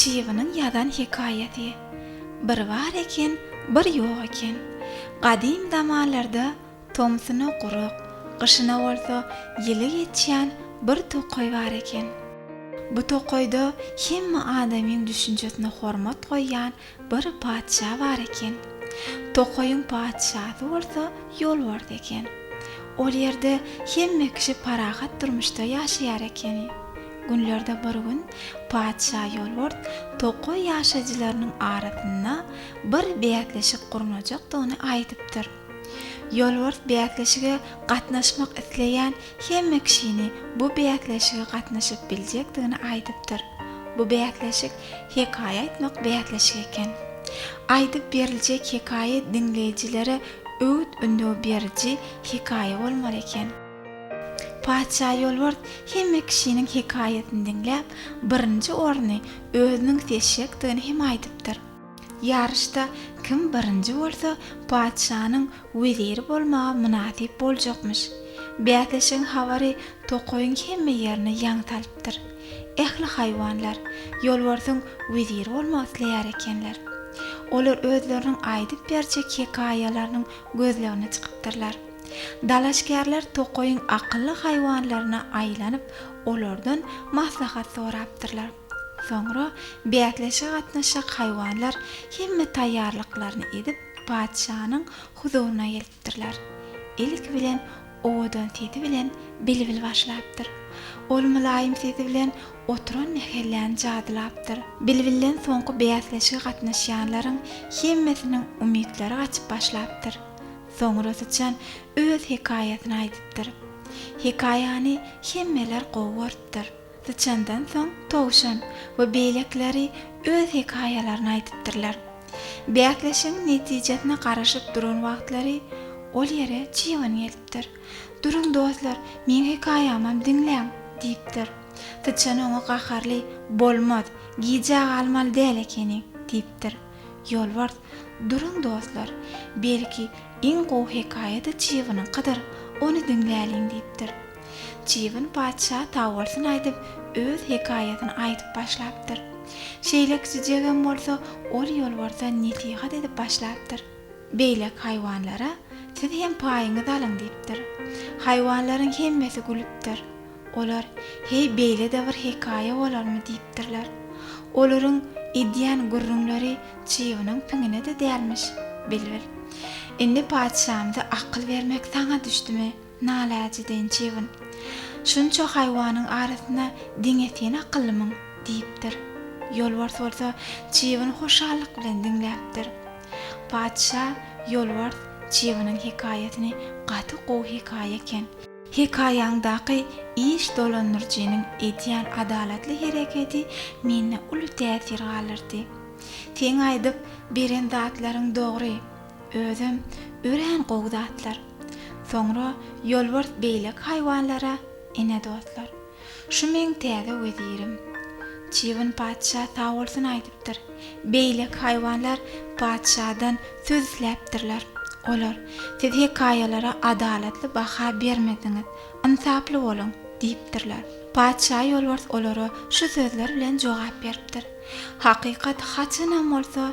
Çybynyň ýazan hekaýasy. Bir bar eken, bir ýok eken. Gadym zamanlarda tomsuna gurak, gyşyna bolsa ýyly geçýän bir tokaý bar eken. Bu tokaýda hemme adamyň düşünjesine hormat goýýan Bir patyşa bar eken. Tokaýyň patyşasy bolsa ýolbars eken. Ol ýerde hemme kişi parahat durmuşda ýaşaýar ekeni. Günlerde bir gün patyşa ýolbars tokaý ýaşaýjylarynyň arasynda bir bäsleşik gurnajakdygyny aýdypdyr. Ýolbars bäsleşige gatnaşmak isleýän hemme kişini bu bäsleşige gatnaşyp biljekdigini aýdypdyr. Bu bäsleşik hekaýa aýtmak bäsleşigi eken. Aýdyp beriljek hekaýa diňleýjilere öwüt-ündew beriji hekaýa bolmaly eken. Patyşa Ýolbars hemme kişiniň hekaýasyny diňläp, birinji orny özüniň seçjekdigini hem aýdypdyr. Ýaryşda kim birinji bolsa, patyşanyň weziri bolmaga mynasyp boljakmyş. Bäsleşigiň habary tokaýyň hemme ýerine ýaň salypdyr. Ähli haýwanlar Ýolbarsyň weziri bolmak isleýär ekenler. Olar özleriniň aýdyp berjek hekaýalarynyň gözlegine çykypdyrlar. Dalaşgärler tokaýyň akylly haýwanlaryna aýlanyp, olardan maslahat sorapdyrlar. Soňra bäsleşige gatnaşjak haýwanlar hemme taýýarlyklaryny edip, patyşanyň huzuryna gelipdirler. Ilki bilen owadan sesi bilen bilbil başlapdyr. Ol mylaýym sesi bilen oturan mähelläni jadylapdyr. Bilbilden soňky bäsleşige gatnaşýanlaryň hemmesiniň umytlary gaçyp başlapdyr. Soňra syçan öz hekaýasyny aýdypdyr. Hekaýany hemmeler gowy görüpdir. Syçandan soň Towşan we beýlekileri öz hekaýalaryny aýdypdyrlar. Bäsleşigiň netijesine garaşyp duran wagtlary ol ýere Çyban gelipdir. Duruň dostlar, meň hekaýamam diňläň! diýipdir. Syçan oňa gaharly, Bolmaz, gijä galmaly däl ekeni, diýipdir. Ýolbars, Duruň dostlar, belki, iň gowy hekaýa-da Çybanyňkydyr, ony diňläliň, diýipdir. Çybyn patyşa sagbolsun aýdyp, öz hekaýasyny aýdyp başlapdyr. Şeýle kiçijegem bolsa, ol ýolbarsa nesihat edip başlapdyr. Beýleki haýwanlara Siz hem paýyňyzy alyň diýipdir. Haýwanlaryň hemmesi gülüpdir. Olar Heý, beýle-de bir hekaýa bolarmy diýipdirler. Olaryň edýän gürrüňleri çybynyň piňine-de dälmiş. Bilbil. Indi patyşamyza akyl bermek saňa düşdümi? Naläjiden çybyn. Şunça haýwanyň arasynda diňe sen akyllymyň? diýipdir. Ýolbars bolsa çybyny hoşallyk bilen diňläpdir. Patyşa, Ýolbars, çybynyň hekaýasyny gaty gowy hekaýa eken. Hekaýaňdaky iş dolandyryjynyň edýän adalatly hereketi mende uly täsir galdyrdy. Seň aýdyp beren zatlaryň dogry. Özem örän gowy zatlar. Soňra Ýolbars beýleki haýwanlara, Ine dostlar, şu meň täze wezirim. Çybyn patyşa sag bolsun aýdypdyr. Beýleki haýwanlar patyşadan söz isläpdirler. Olar, Siz hekaýalara adalatly baha bermediňiz, ynsaply boluň! diýipdirler. Patyşa Ýolbars olara şu sözler bilen jogap beripdir, Hakykat haçanam bolsa